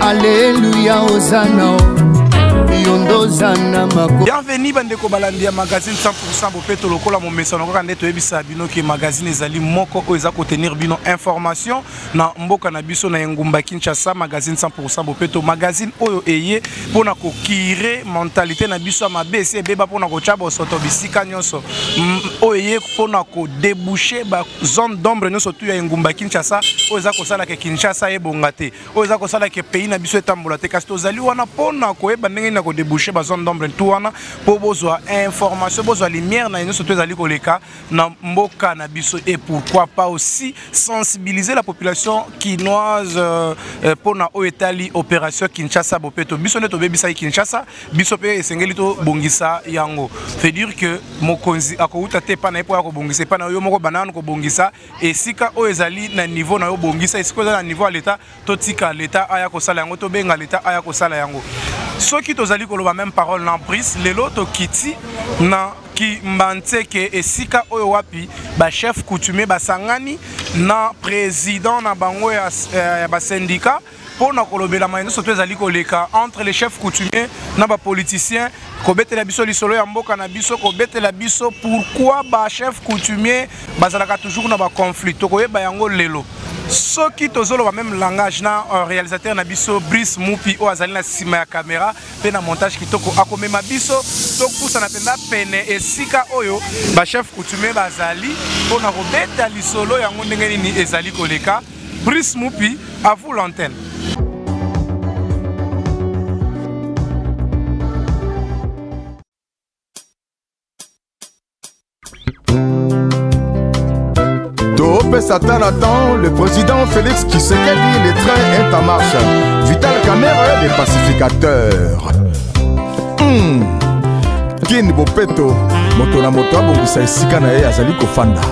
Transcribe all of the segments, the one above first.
aleluya ozana yondo ozana mako bienveni bandeko balandi ya magazine 100 bopeto lokola momesano kaka nde toyebisa bino ke magazine ezali moko oyo eza kotenir bino information na mboka na biso na engumba kinshasa magazine 100 bopeto magazine oyo eye mpo na kokire mentalite na biso ya mabe esi ebeba mpo na kotya bosoto bisika nyonso mm, oyo eye mpo na kodebouche bazone d'ombre nyonso tu ya engumba kinshasa oyo eza kosala ke kinshasa ebonga te oyo eza kosala ke pays na biso etambola te kasi tozali wana mpo na koyeba ndenge nini ya kodebouche bazone d'ombre tu wana mpo bozwa information bozwa lumière na ye nyonso to ezali koleka na mboka na biso et pourquoi pas aussi sensibiliser la population kinoise euh, euh, mpo na oyo etali opération kinshasa bopeto biso nde tobebisaki kinshasa biso mpe esengeli tobongisa yango fait dire que mokonzi akowuta te epai na ye mpo ya kobongisa epai na yo moko banano kobongisa esika oyo ezali na niveau na yo bongisa esika oza na niveau ya leta totika leta aya kosala yango tobenga leta aya kosala yango soki tozali koloba meme parole na brise lelo tokiti na kimbanseke esika oyo wapi bachef coutumier basangani na président na bango ya, eh, ya basindika mpo na kolobela maye nyonso to ezali koleka entre les chefs coutumier na bapoliticien kobetela biso lisolo ya mboka na biso kobetela biso pourquoi ba chef coutumier bazalaka toujours na baconflit tokoyeba yango lelo soki tozoloba meme langage na euh, réalisateur na biso brice mupi oyo azali na nsima ya kamera mpe na montage kitoko akomema biso topusana mpenza pene esika oyo bachef coutumier bazali mpo na kobeta lisolo yango ndenge nini ezali koleka Brice Mupi, à vous l'antenne. Satan attend le président Félix qui s'est dit les trains est en marche. Vital Kamere, les pacificateurs. Mmh. Kin Bopeto, moto na moto abongisa esika na ye azali kofanda.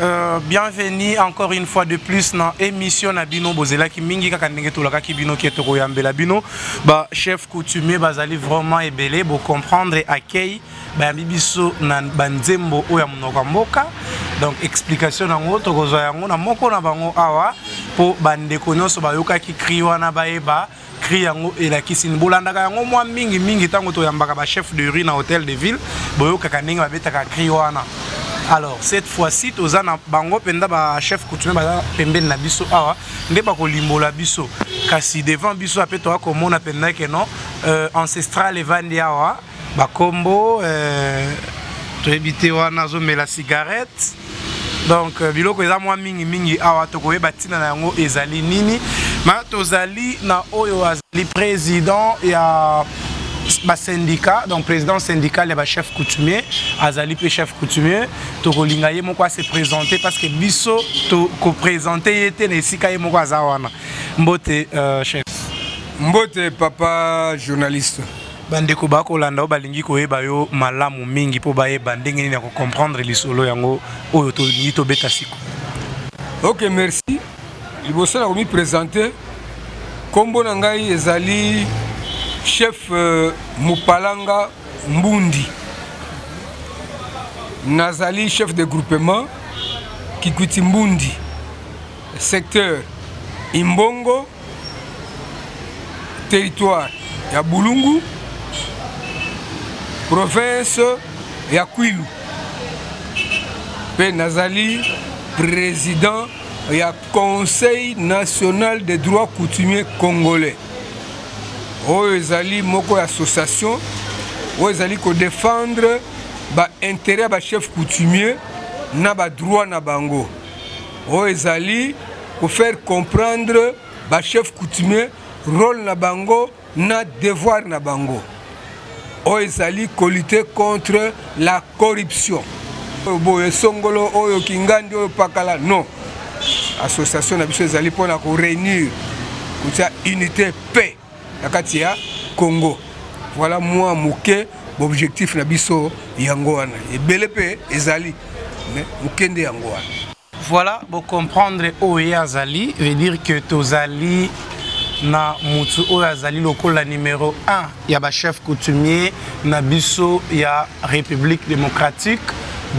Euh, bienvenue encore une fois de plus dans émission na bino bozelaki mingi kaka ndenge tolakaki bino ke tokoyambela bino ba chef coutumier bazali vraiment ebele bo comprendre accueil bayambi biso na banzembo oyo ya monoko ya mboka donc explication yango tokozwa yango na moko na bango awa mpo bandeko nyonso bayokaki cri wana bayeba cri yango elakisi nini bolandaka yango mwa mingi mingi ntango toyambaka bachef de rue na hôtel de ville boyokaka ndenge babetaka cri wana alors cette fois-ci toza na bango mpenza bachef coutumier baza pembeni na biso awa nde bakolimbola biso kasi devant biso ape toya komona mpenza ke non euh, ancestral evandi awa bakombo eh, toyebi te wana azomela cigarette donc euh, biloko eza mwa mingimingi awa tokoyeba ntina na yango ezali nini ma tozali na oyo azali président ya basyndicat donc président syndical ya bachef coutumier azali mpe chef coutumier tokolinga ye moko ase présente parce que biso tokoprésente ye te na esika ye moko aza wana mbote euh, chef mbote papa journaliste bandeko bakolanda oyo balingi koyeba yo malamu mingi mpo bayeba ndenge nini ya kocomprendre lisolo yango oyo tolingi tobeta siko ok merci liboso na komipresente nkombo na ngai ezali chef euh, mopalanga mbundi nazali chef de groupement kikwiti mbundi secteur imbongo territoire ya bulungu province ya kwilu mpe nazali président ya conseil national des droits coutumiers congolais oyo ezali moko ya association oyo ezali kodefendre baintérêt ya bachef coutumier na badroit na bango oyo ezali ko faire comprendre ba chef coutumier role na bango na devoir na bango oyo ezali kolite contre la corruption oyo boye songolo oyo kingandi oyo pakala non association na biso ezali mpona koreunir kotya unité paix na kati ya congo voilà mwa moke baobjectif na biso yango wana ebele mpe ezali mais moke nde yango wana voilà bocomprendre oyo ye azali veut dire que tozali na motu oyo azali lokola numero 1 ya bachef coutumier na biso ya république démocratique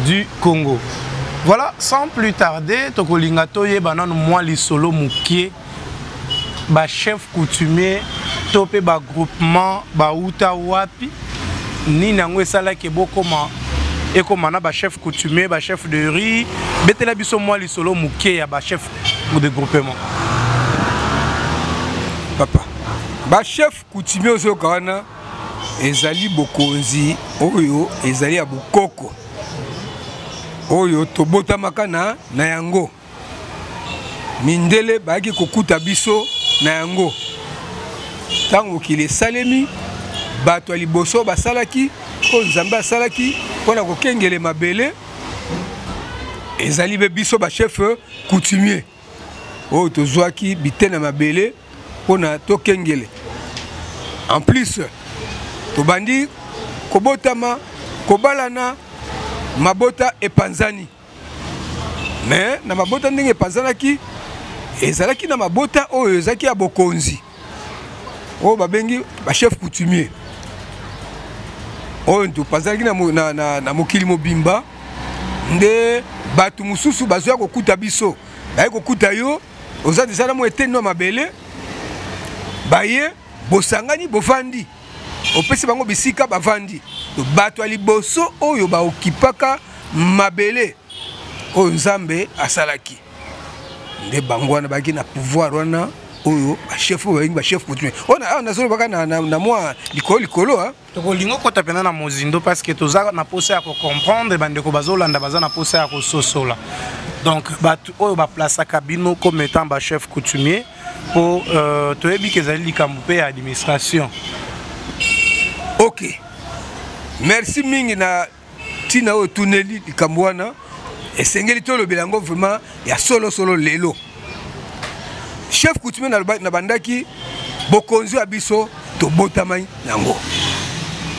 du congo voilà sans plus tarder tokolinga toyeba nano mwa lisolo mokie ba chef coutumier to mpe ba groupement bauta wapi nini yango esalaki bokoma ekoma na ba chef coutumier ba chef de riz betela biso mwa lisolo moke ya ba chef de groupement papa ba chef coutumier ozoyoka wana ezali bokonzi oyo ezali ya bokoko oyo tobotamaka na, na yango mindele bayaki kokuta biso na yango ntango mokili esalemi bato ya liboso basalaki oyo nzambe asalaki mpo na kokengele mabele ezali mpe biso bashefe coutumier oyo tozwaki bitene ya mabele mpo na tokengele en plus tobandi kobotama kobalana mabota epanzani mais na mabota ndenge epanzanaki ezalaki na mabota oyo ezalaki ya bokonzi oyo babengi bachef coutumier oyo topanzanaki na, na, na, na mokili mobimba nde bato mosusu bazoya kokuta biso baye kokuta yo oza deja na mwa eteni na mabele baye bosangani bofandi opesi bango bisika bavandi bato ya liboso oyo baokipaka mabele oyo nzambe asalaki nde bango wana bayaki na pouvoir wana oyo bachef oyo balingi bachef coutumier oyo awa nazolobaka na mwa likolo likolo tokolingi okota mpenza na mozindo parce que toza na mposa ya kocomprendre bandeko bazolanda baza na mposa ya kososola donc bato oyo baplasaka bino comme étant bachef coutumier mpo uh, toyebi ke ezali likambo mpe ya administration ok merci mingi na ntina oyo tuneli likambo wana esengeli tolobela yango vraiment ya solosolo lelo chef coutumier nabandaki bokonzi ya biso tobotamai yango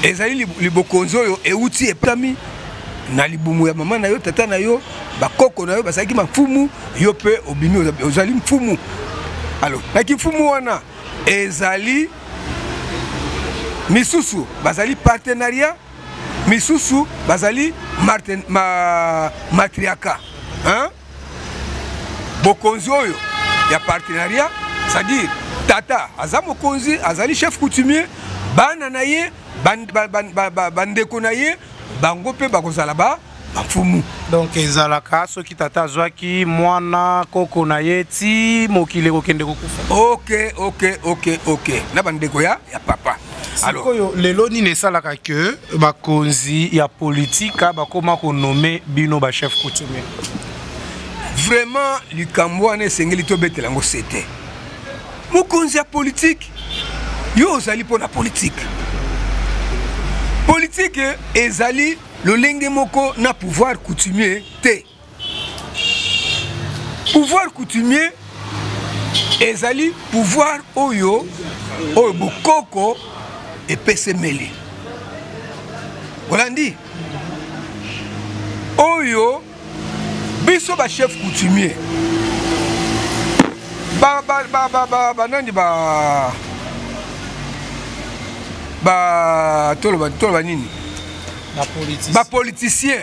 ezali libokonzi oyo euti epami na libumu ya mama na yo tata na yo bakoko na yo bazalaki mafumu yo mpe obimi ozali mfumu alo na kimfumu wana ezali misusu bazali partenariat misusu bazali ma, matriaka hein? bokonzi oyo ya partenariat c'est-à-dire tata aza mokonzi azali chef coutumier bana na ye bandeko na ye bango mpe bakozala ba bamfumu donc ezalaka soki tata azwaki mwana koko na ye ti mokili ekokende kokufa ok ok ok ok na bandeko ya, ya papa sikoyo lelo nini esalaka ke bakonzi ya politika bakoma konome bino bachef coutumier vraiment likambo wana esengeli tobetela yango sete mokonzi ya politike yo ozali mpo na politike politike ezali lolenge moko na pouvoir coutumier te pouvoir coutumier ezali pouvoir oyo oyo bokoko epesemeli olandi oyo biso bachef coutumier banani ba toloba nini bapoliticien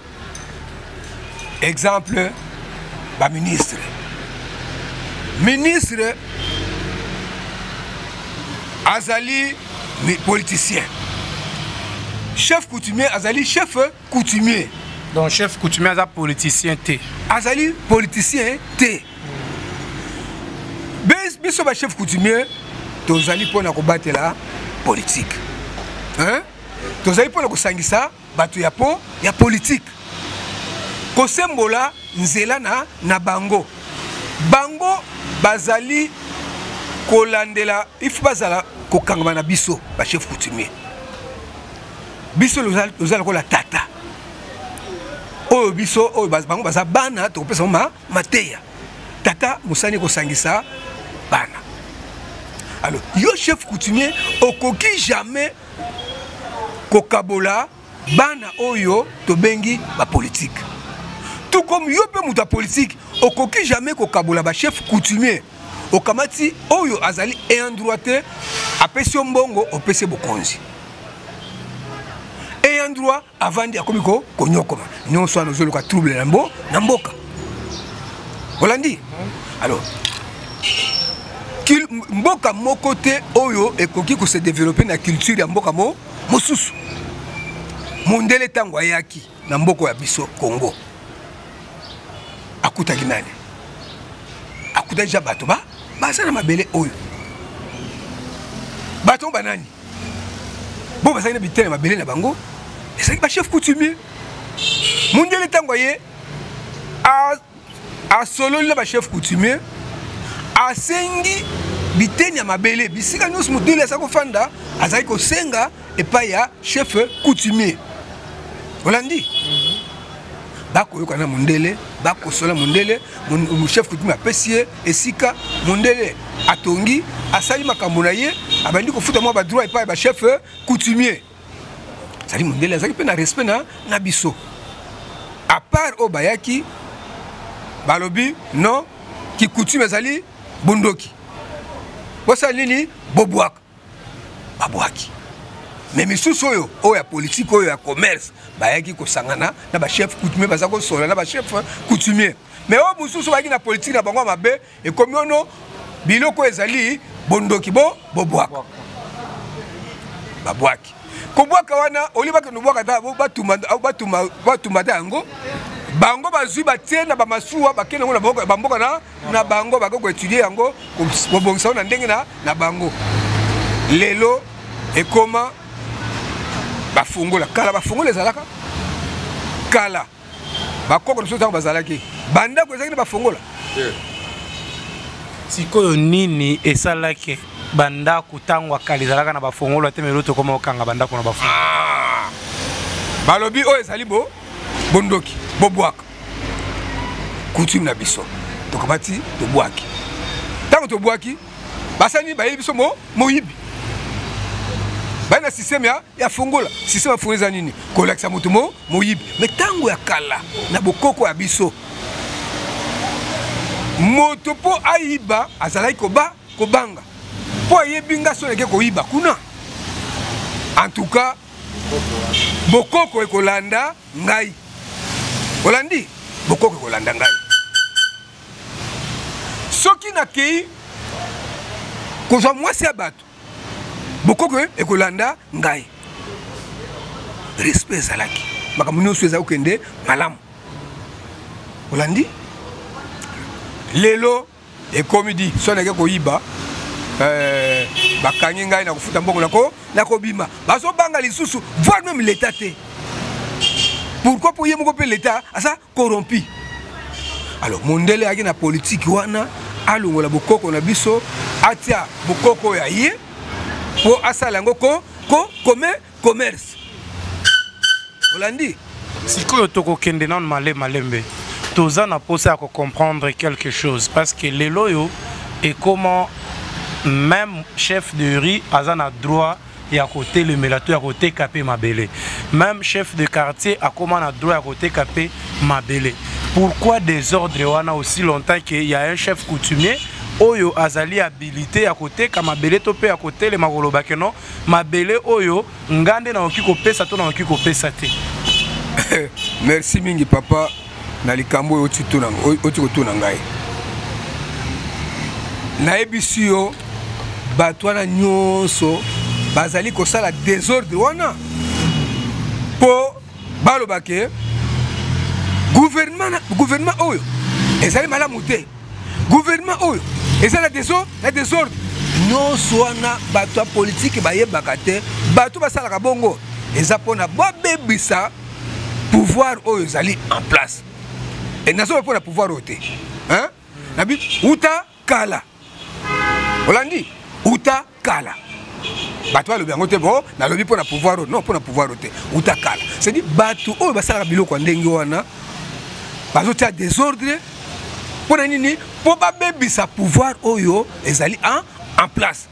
exemple baministre ministre azali politicien chef coutumier azali chef coutumier donc chef coutumier aza politicien te azali politicien te biso bachef coutumier tozali mpo na kobatela politike tozali mpo na kosangisa bato ya po ya politike kosembola nzela na, na bango bango bazali kolandela ifi bazala kokangama na biso bachef coutumier biso loza lokola tata oyo biso oyo bango baza bana tokopesa ma mateya tata mosani kosangisa bana alors yo chef coutumier okoki jamais kokabola bana oyo tobengi bapolitike tout comme yo mpe moto ya politike okoki jamais kokabola bachef coutumier okamati oyo azali eendroit te apesi yo mbongo opesi bokonzi eendroit avandi akomi ko konyokoma nyonso wana ozoluka trouble na mbo na mboka olandi alors mboka moko te oyo ekoki kose développer na culture ya mboka mo mosusu mondele ntango ayaki na mboka ya biso congo akutaki nani akutaki ja bato ba baza na mabele oyo bato banani bo bazali na bitene mabele na bango ezalaki bachef coutumier mondele ntango aye asololi na bachef coutumier asengi biteni ya mabele bisika nyonso mondele azali kofanda azali kosenga epai ya chef coutumier olandi bakoyoka na mondele bakosola mondele chef coutume apesi ye esika mondele atongi asali makambo na ye abandi kofuta mwa badroit epai ya bachef coutumier azali mondele azalaki mpe na respect na, na biso apart oyo bayaki balobi non kikutume ezali bondoki bosala nini bobwaka babwaki me misusu oyo oyo ya politike oyo ya commerce bayaki kosangana na bachef coutumier baza kosola na bachef coutumier me oyo mosusu bayaki na politike na bango ya mabe ekomi ono biloko ezali bondoki bo bobwaka babwaki kobwaka wana olie bakende obwaka ta batumba ta yango bango bazwi batie na bamasuwa bakende yango na bamboka na na bango bakoki koetudie yango kobongisa yango na ndenge na bango lelo ekoma bafungola kala bafungola ezalaka kala bakoko na biso ntango bazalaki bandako ezalaki na bafungola sikoyo nini esalaki bandako ntango akala ezalaka na bafongola te melo tokoma kokanga bandako na bafongola ah! balobi oyo ezali bondoki bobwaka coutume na biso tokamati tobwaki ntango tobwaki basani bayeli biso mo moyibi baye na systeme ya, ya fongola systeme ya fongola eza nini kolakisa moto mo moyibi me ntango ya kala na bokoko ya biso moto mpo ayiba azalaki koba kobanga mpo ayebi nga so nake koyiba kuna en tout cas bokoko ekolanda ngai olandi bokoki kolanda ngai soki nakei kozwa mwasi ya bato bokoki ekolanda ngai respect ezalaki makambo nyonso ezali kokende malamu olandi lelo ekomi di so nake koyiba eh, bakangi ngai na kofuta mbongo nako nakobima bazobanga lisusu voir meme leta te pourquoi mpo ye moko mpe leta aza corrompu alors mondele ayaki na politiki wana alongola bokoko na biso atia bokoko ya ye mpo asala yango ko, ko, kome commerce olandi sikoyo tokokende nano male malembe toza na mposa ya kocomprendre quelque chose parce que lelo oyo ekoma même chef de riz aza na droit ya kotelemela to ya koteka mpe mabele même chef de quartier akoma na droit ya koteka mpe mabele pourquoi désordre wana aussi longtemps que ya un chef coutumier oyo azali habilité ya koteka mabele to mpe ya kotelema koloba ke non mabele oyo nga nde nakoki kopesa to nakoki kopesa te merci mingi papa na likambo oyo oti kotuna ngai nayebisi yo bato wana nyonso bazali kosala desordre wana mpo balobake guvernema oyo ezali malamu te gouvernement oyo eza na desordre na desordre nyonso wana bato ya politiki bayebaka te bato basalaka bongo eza mpona babebisa pouvoir oyo ezali en place e nazoloba mpona pouvoir oyo te nabi uta kala olandi uta kala bato balobi yango te bo nalobi mpo na pouvoir oyo non mpo na pouvoir oyo te uta kala cedi bato oyo basalaka biloko ya ndenge wana bazotia desordre mpo na nini mpo babebisa pouvoir oyo ezali en, en place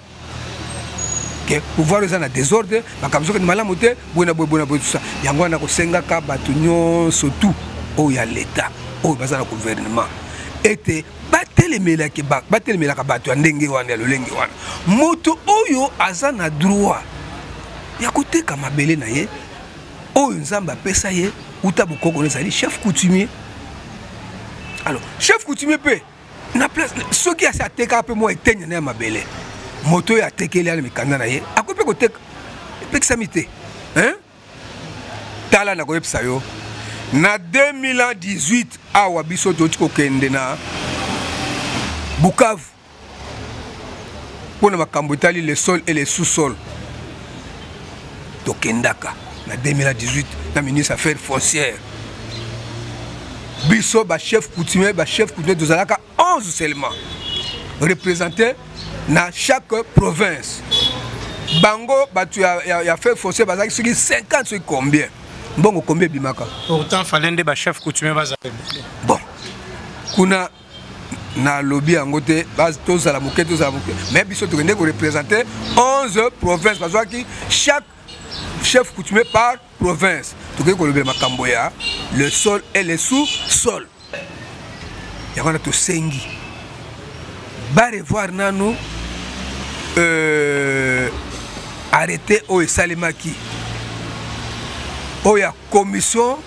ke pouvoir eza na desordre makambo soki malamu te boye na boye boye na boye tusa yango wana kosengaka bato nyonso tu oyo ya leta oyo baza na gouvernement ete batelemelaki ba, batelemelaka bato ya ndenge wana ya lolenge wana moto oyo aza na droit ya koteka mabele na ye oyo nzambe apesa ye uta bokoko na ezali chef coutumier alors chef coutumier mpe na place soki asi atekaka mpe mwa etenia na ya mabele moto oyo atekeli ana mikanda na ye akoki mpe koteka epekisami te hein? tala nakoyebisa yo na 2018 awa biso toti kokende na bukavu mpo na makambo etali le sol et le sous-sol tokendaka na 2018 na ministre affaire foncière biso bachef coutumier bachef coutumier tozalaka 11 seulement représenté na chaque province bango bato ya, ya, ya feu fossé bazalaki soki 50 soki combien mbongo combien ebimaka pourtant fale nde bachef coutumier bazala bon kuna nalobi yango te tozala moke tozala moke mais biso tokende korepresente 11 province bazwaki chaque chef coutumier par province tokoki kolobela makambo ya le sol et le sous sol yango wana tosengi barevoir nanu euh, arrete oyo esalemaki oyo ya commission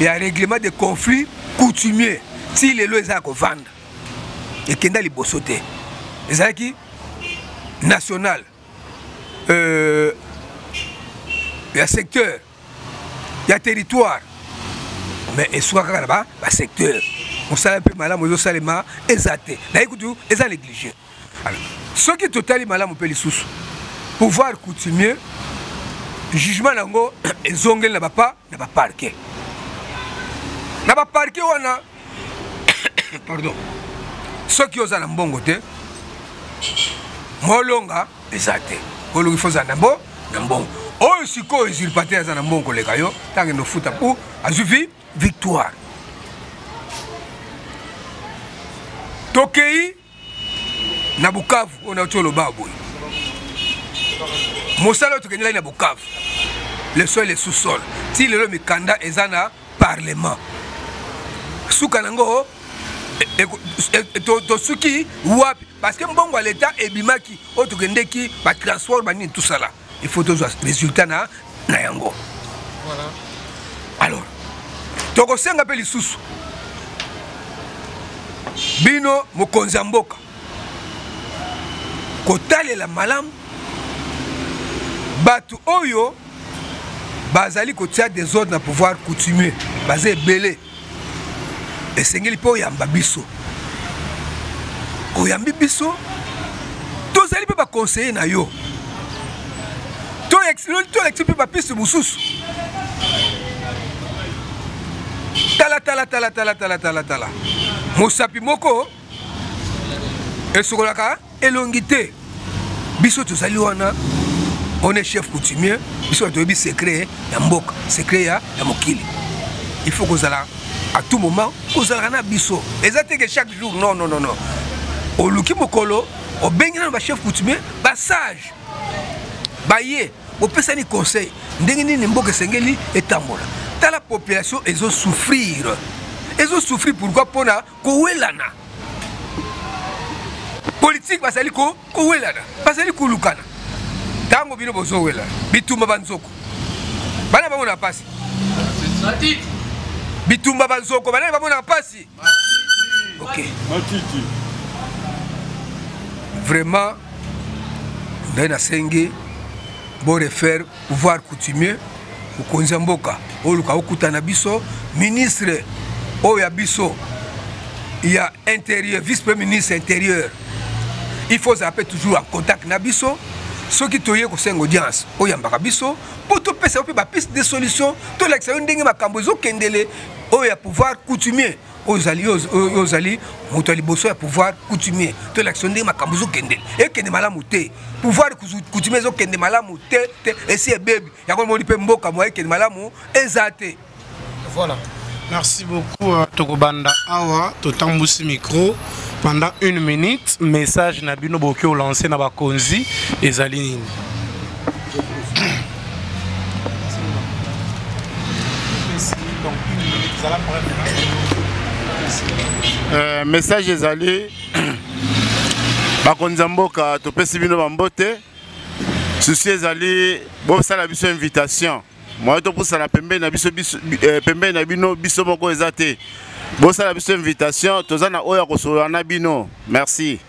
ya règlement de conflit coutumier ti lelo eza ya kovanda ekenda liboso te ezalaki national euh, ya secteur ya territoire mais esuka kaka na basecteur mosala mpe malamu ezosalema eza te naye kutu eza néglige soki totali malamu mpe lisusu pouvoir coutumier jugement na yango ezongeli na bapa na ba parquet na ba parquet wana pardon soki oza na mbongo te molonga eza te olongi fo ozala na mbo na mbongo oyo sikoyo usurpateur aza na mbongo koleka yo ntango ende ofuta mpo azwi vi victoire tokei na bukavu oyo nauti oloba boye mosala oyo tokendelaki na bukavu le sol le sous-sol ti lelo mikanda eza na parlement suka na yango e, e, e, tosuki wapi parce que mbongo ya leta ebimaki oyo tokendeki batransport banini tosala il faut tozwa résultat na, na yango voilà. alors tokosenga mpe lisusu bino mokonzi ya mboka kotalela malamu bato oyo bazali kotia desordre na pouvoir coutumier baza ebele esengeli mpe oyamba biso oyambi biso tozali mpe bakonseye na yo tolekisi mpe bapiste mosusu talatala talatala talatala tala mosapi moko esokolaka elongi te biso tozali wana on est chef coutumier biso bato toyebi secret ya mboka secret ya, ya mokili il faut kozala à tout moment kozalaka na biso eza te ke chaque jour non non non non oluki mokolo obengi nano bachef coutumier basage baye bopesani conseil ndenge nini mboka esengeli etambola tala population ezosouffrir ezosouffrir pourquoi mpona kowelana politike bazali kowelana bazali kolukana ntango bino bozowela bitumba banzoko bana bango na mpasi bitumba banzoko bana bango na mpasi ok vraiment ngai nasengi borefaire pouvoir coutumier mokonzi ya mboka oyo luka okuta na biso ministre oyo ya biso ya intérieur vice premier ministre intérieur il faut ozala mpe toujours en contact na biso soki toye kosenga audience oyambaka biso mpo topesa yo mpe bapiste de solution tolakisa yo ndenge makambo ezokendele oyo ya pouvoir coutumier oyo ozali yo ozali moto ya liboso ya pouvoir coutumier to elakisa ndenge makambo ezokende ekende malamu te pouvoir coutumier ezokende malamu te te esi ebebi yango omoni mpe mboka moya ekende malamu eza te voilà merci beaucoup euh, tokobanda awa totambusi micro pendant une minute message na bino boki olanse na bakonzi ezali nini Euh, message ezali bakonzi ya mboka topesi bino bambote susi ezali bosala biso invitation moye topusana pembeni na biso eh, pembeni na bino biso moko eza te bosala biso invitation toza na oyo ya kosolola na bino merci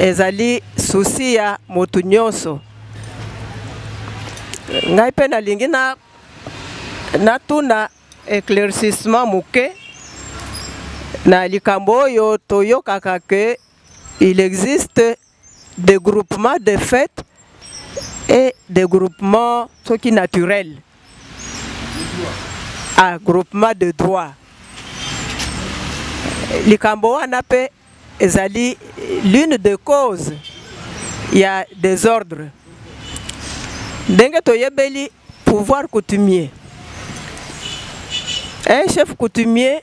ezali susi ya moto nyonso ngai mpe nalingi na natuna éclaircissement moke na likambo oyo toyokaka ke il existe de groupement de fête et de groupement soki naturel ah, groupement de droit likambo wana mpe ezali l'une de cause ya désordre ndenge toyebeli pouvoir coutumier un chef coutumier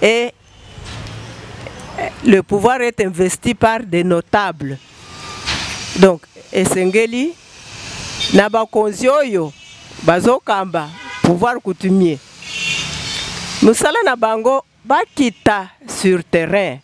et le pouvoir est investi par des notables donc esengeli na bakonzi oyo bazokamba pouvoir coutumier mosala na bango bakita sur terrain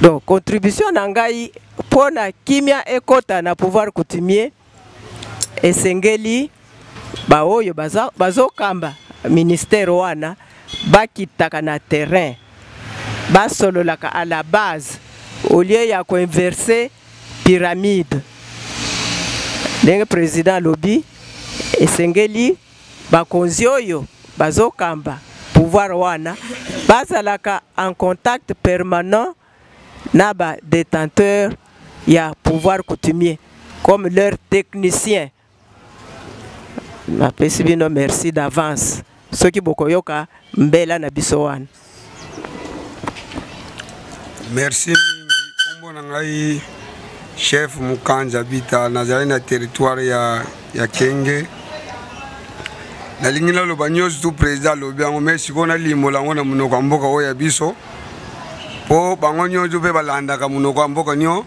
donc contribution na ngai mpo na kimia ekota na pouvoir coutumier esengeli baoyo bazokamba bazo ministère wana bakitaka na terrain basololaka à la base au lieu ya koinverse pyramide ndenge président alobi esengeli bakonzi oyo bazokamba pouvoir wana bazalaka en contact permanent na ba détenteur ya pouvoir coutumier comme leur technicien napesi bino merci d'avance soki bokoyoka mbela na biso wana merci mingi nkombo na ngai chef mukanja bita nazali na territoire ya, ya kenge nalingi naloba nyonso tu président alobi yango mai sikoyo nalimbola yango na monoko ya mboka oyo ya biso mpo bango nyonso mpe balandaka monoko ya mboka nyonso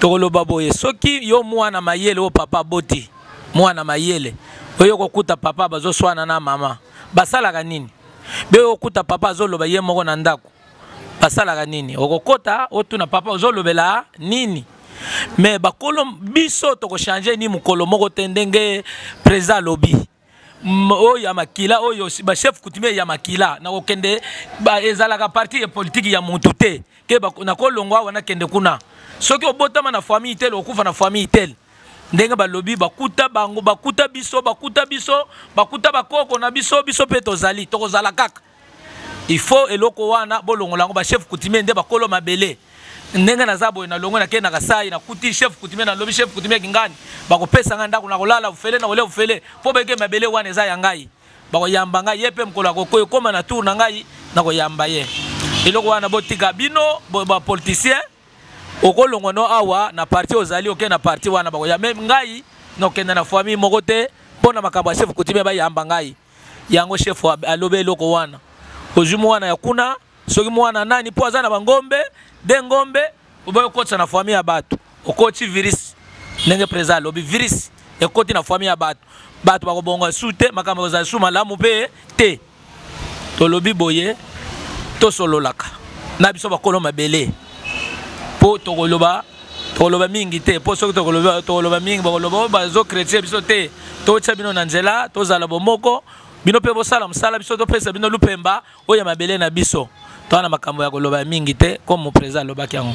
tokoloba boye soki yo mwana mayele oyo papa aboti mwana mayele oyo kokuta papa bazoswana na mama basalaka nini be okuta papa azoloba ye moko na ndako basalaka nini okokota otuna papa ozolobela nini me bakolo biso tokochange ni mokolo moko te ndenge président alobi oyo ya makila oyo bachef coutumier ya makila na kokende ezalaka parti ya politiki ya motu te ke nakolongwa awa nakende kuna soki obotama na famille tel okufa na famille tel ndenge balobi bakuta bango bakuta biso bakuta biso bakuta bakoko na biso biso mpe tozali tokozala kaka il faut eloko wana bolongola yango bachef coutumier nde bakolo mabele ndenge naza boye nalongo nake na kasai nakuti chef coutumier nalobi chef coutumier kingani bakopesa ngai ndako nakolala ofele nakolia ofele mpo beke mabele wana eza ya ngai bakoyamba ngai ye mpe mokolo akokoya ekóma na tour na ngai nakoyamba ye eloko wana botika bino bapoliticien okolongwa no awa na parti ozali oke na parti wana bakoya me ngai nokende na famille moko te mpo na makambo ya chef coutumier bayamba ngai yango chef alobi eloko wana ozwi mwana ya kuna soki mwana nani mpo aza na bangombe de ngombe oboyi okotisa na fami ya bato okoti virus ndenge président alobi virus ekoti na fami ya bato bato bakobonga su te makambo kozala su malamu mpe te tolobi boye tosololaka na biso bakolo mabele mpo tokoloba tokoloba mingi te mpo soki tokoloba mingi bakoloba oyo oh, bazokretye biso te totya bino na nzela tozala bomoko bino mpe bosala mosala biso topesa bino lupemba oyo ya mabele na biso toa na makambo ya koloba ya mingi te comme moprésident alobaki yango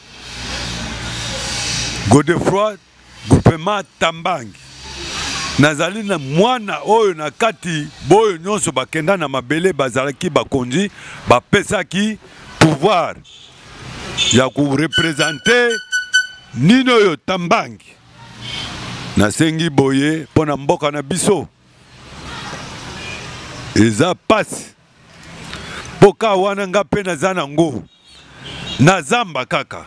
godefroi groupement tambangi nazali na mwana oyo na kati boyo nyonso bakenda na mabele bazalaki bakonzi bapesaki pouvoir ya korepresente nini oyo tambangi nasengi boye mpo na mboka na biso eza mpasi mpo kaa wana nga mpe naza nango na zamba kaka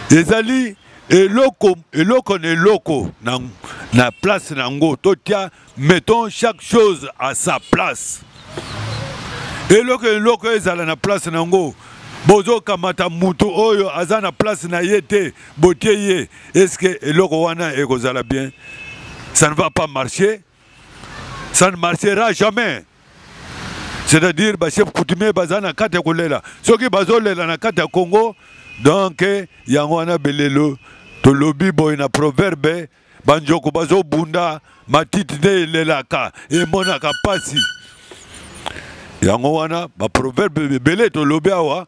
ezali eloko eloko na eloko na, na place na yango totya mettons chaque chose à sa place eloko eloko ezala na place na yango bozokamata moto oyo aza na place na ye te botie ye eske eloko wana ekozala bien ça ne va pas marcher ça ne marchera jamais c'est-à-dire bachef coutumier baza na kati ya kolela soki bazolela na kati ya congo donc yango wana belelo tolobi boye na proverbe banjoko bazobunda matiti nde elelaka emonaka mpasi yango wana baproverbe ebele tolobi awa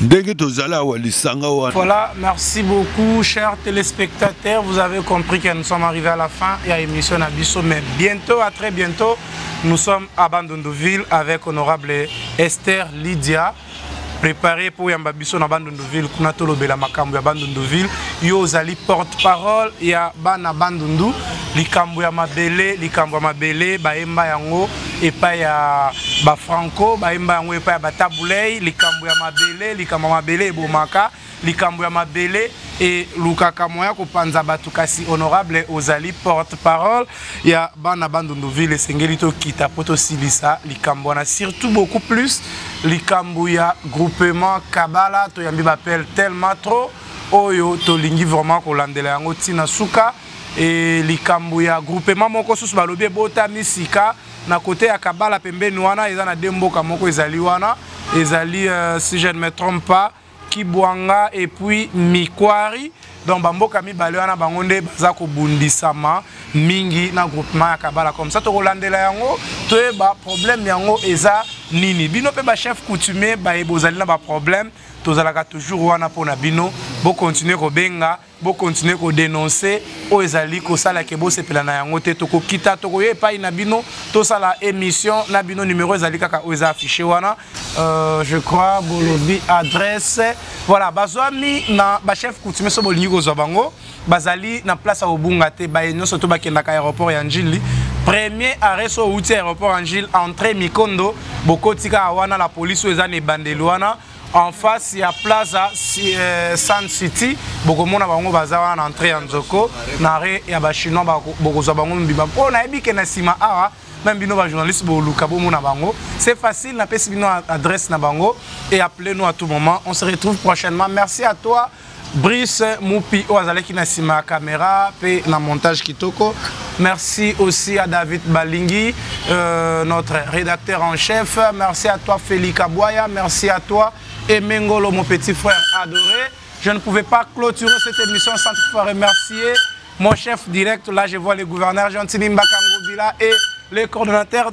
ndenge tozali awa lisanga wana voilà merci beaucoup chers téléspectateurs vous avez compris que nous sommes arrivés à la fin ya émission na biso mais bientôt à très bientôt nous sommes à bandondoville avec honorable esther lydia préparé mpo oyamba biso na bandunduville kuna tolobela makambo ya bandunduville yo ozali porte parole ya bana bandundu likambo ya mabele likambo ya mabele bayemba yango epai ya bafranco bayemba yango epai ya batabulei likambo ya mabele likambo ya mabele ebomaka likambo ya mabele elukaka moyen ya kopanza bato kasi honorable ozali porte parole ya bana bandunduville esengeli tokita mpo tosilisa likambo wana surtout beaucoup plus likambo ya groupement kabala toyambi bapele tellement trop oyo tolingi vraiment kolandela yango ntina suka e, likambo ya groupement moko susu balobi ebotami sika na kote ya kabala pembeni wana eza na de mboka moko ezali wana ezali uh, si je ne me trompe pas kibwanga et puis mikwari donc bamboka mibale wana bango nde baza kobundisama mingi na groupement ya kabala comme ça tokolandela yango toyeba problème yango eza nini bino mpe bachef coutumier baye bozali na baproblème tozalaka toujours wana mpo na bino bokontinue kobenga bo continuer ko denoncer oyo ezali kosala ke bosepela na yango te tokokita tokoya epai na bino tosala émission na bino numéro ezali kaka oyo eza affiché wana euh, je crois bolobi adresse voilà bazwami na bachef coutumier so bolingi kozwa bango bazali na place ya kobunga te baye nyonso to bakendaka aéroport ya njili premier arrêt so outi aéroport ya njili entrée mikondo bokotika wana la police oyo eza na ebandeli wana en face ya plaza si, eh, sun city bokomona bango baza wana na entrée ya nzoko na re ya bachinois bokozwa bango mobimba mpo nayebi ke na nsima awa meme bino bajournaliste boluka bomona bango c'est facile napesi bino adresse na bango et appelez nous à tout moment on se retrouve prochainement merci à toi Brice Mupi oyo azalaki na sima ya camera pe na montage kitoko. Merci aussi à David Balingi, euh, notre rédacteur en chef. Merci à toi Félix Kaboya, merci à toi Emengolo, mon petit frère adoré. Je ne pouvais pas clôturer cette émission sans te faire remercier mon chef direct. Là, je vois le gouverneur Gentini Mbakangobila et le coordonnateur